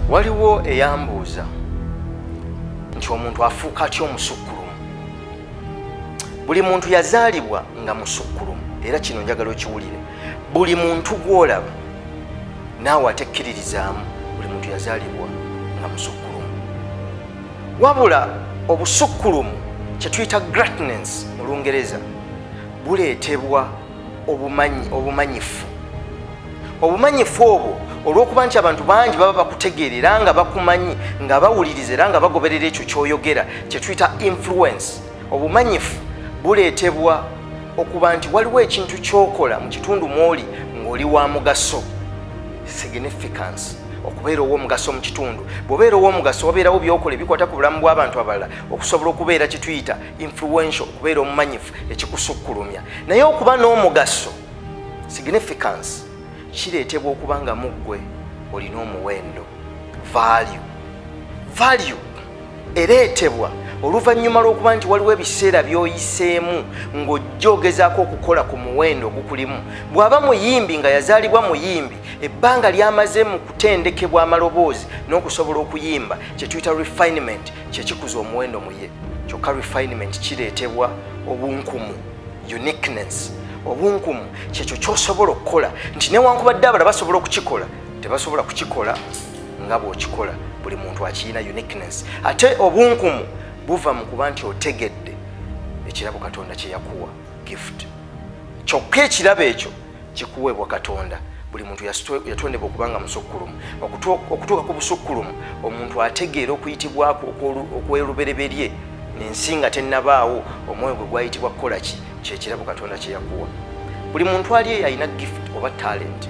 waliwo eyambuuza nti omuntu afuuka atya omusukkulumu buli muntu yazaalibwa nga musukkulumu era kino njagala okiwulire buli muntu gwolaba naawe atekkiririzaamu buli muntu yazaalibwa nga musukkulumu wabula obusukkulumu kyetuyita gratnance mu lungereza buleetebwa obumanyifu obumanyifu obwo olw'okuba nti abantu bangi baba bakutegeera era nga bakumanyi nga bawuliriza era nga bagoberera ekyo kyoyogera kyetuyita influence obumanyifu buleetebwa okuba nti waliwo ekintu kyokola mu kitundu mwoli ng'oli wa mugaso significance okubeera ow'omugaso mu kitundu bw'obeera ow'omugaso wabeerawo byokola ebikwata ku bulamu bw'abantu abalala okusobola okubeera kituyita influential okubeera omumanyifu ekikusukkulumya naye okuba n'omugaso significance kireetebwa okuba nga muggwe olina omuwendo value value ereetebwa oluvannyuma lw'okuba nti waliwo ebiseera by'oyiseemu ng'ojja ogezaako okukola ku muwendo ogukulimu bw'aba muyimbi nga yazaalibwa muyimbi ebbanga ly'amaze mu kutendekebwa amaloboozi n'okusobola okuyimba kye tuyita refinement kye kikuza omuwendo mu ye kyokka refinement kireetebwa obunkumu uniqueness obunkumu kyekyo ky'osobola okukola nti newankubadde abala basobola okukikola tebasobola kukikola nga bw'okikola buli muntu akiyina uniqueness ate obunkumu buva mu kuba nti otegedde ekirabo katonda kye yakuwa gift kyokka ekirabo ekyo kikuweebwa katonda buli muntu yatondebwa okuba nga musukkulumu okutuuka ku busukkulumu omuntu ategeera okuyitibwako okwerubereberye nensi nga tennabaawo omwoyo gwe gwayitibwa kukola ki kyekirabo katonda kye yakuwa buli muntu ali eyo alina gift oba talenti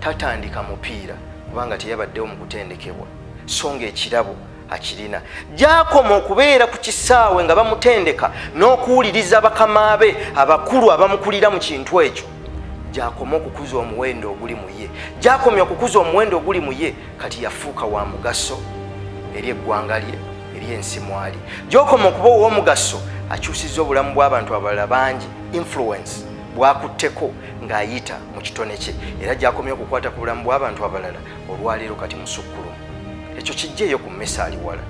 tatandika mupiira kubanga teyabaddewo mu kutendekebwa so ng'ekirabo akirina gyakoma okubeera ku kisaawe nga bamutendeka n'okuwuliriza bakama be abakulu abamukulira mu kintu ekyo gyakoma okukuza omuwendo oguli mu ye gyakomya okukuza omuwendo oguli mu ye kati yafuuka wa mugaso eri eggwanga lye eri ensi mwali gyokoma okuba ow'omugaso akyusiza obulamu bw'abantu abalala bangi influence bwakutteko ng'ayita mu kitone kye era gyakomye okukwata ku bulamu bw'abantu abalala olwaleero kati musukkulumu ekyo kijjeeyo ku mmesa aliwala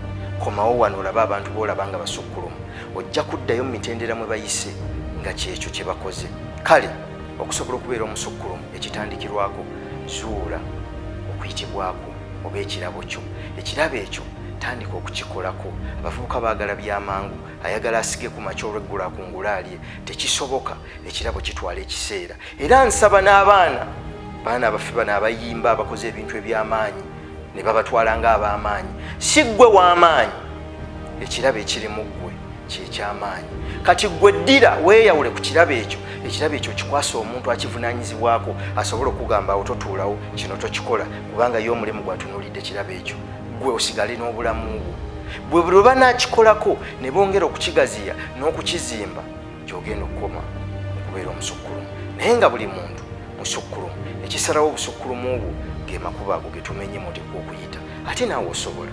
komawo wano olabe abantu boolaba nga basukkulumu ojja kuddayo mu mitendera mwe bayise nga kyekyo kye bakoze kale okusobola okubeera omusukkulumu ekitandikirwako zuula okuyitibwako oba ekirabo kyo ekirabo ekyo tandika okukikolako abavubuka baagala byamangu ayagala asige ku makya olweggula akungula alye tekisoboka ekirabo kitwala ekiseera era nsaba n'abaana baana baffe bano abayimba abakoze ebintu eby'amaanyi ne babatwala ng'ab'amaanyi si ggwe w'amaanyi ekirabo ekiri mu ggwe kyeky'amaanyi kati ggwe ddira weeyawule ku kirabo ekyo ekirabo ekyo kikwasa omuntu akivunaanyizibwako asobole okugamba awo totuulawo kino tokikola kubanga ye omulimu gwatunuulidde kirabo ekyo ggwe osigale n'obulamu bwo bwe bwe banakikolako ne bongera okukigaziya n'okukizimba gyogenda okukoma okubeera omusukkulumu naye nga buli muntu musukkulumu ekisalawo obusukkulumu obwo ge makuba ago getumenye mutekwa okuyita ate naawe osobola